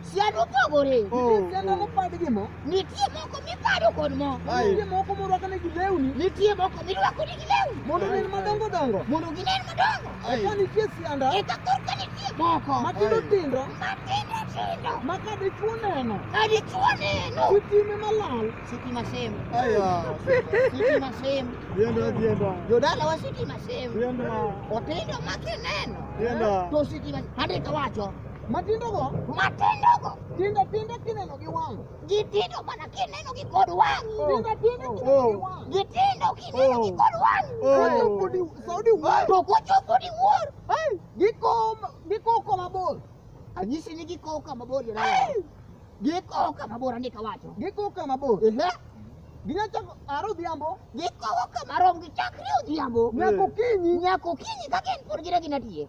siyaduka gore nitie moko miparo kod mo nitie moko morwako ne gi lewni nitie moko mirwako ne gi lewni mondo ginen madongo dongo mondo ginen madongo eka nitie sianda eka korka nitie moko matindo tindo matindo tindo ma ka dichwo neno ka dichwo neno sitime malal sitima sem sitima sem jodala wa sitima sem otindo ma kineno to sitima andika wacho Matindo go? Matindo go. Tindo tindo kineno gi wang'. Gitindo mana kineno gi kod wang'. Oh. Tindo tindo oh. kineno gi wang'. Gitindo kineno gi oh. kod wang'. Kochopo di Saudi wuor. To kochopo di wuor. Hey, giko giko koma bor. Anyisi ni giko kama bor yona. Hey. Giko kama bor andika wacho. Giko kama bor. Ehe. Ginachako aro odhiambo. Giko kama rom gichakre odhiambo. Nyako kinyi. Nyako kinyi kaka en pod gire ginatiye.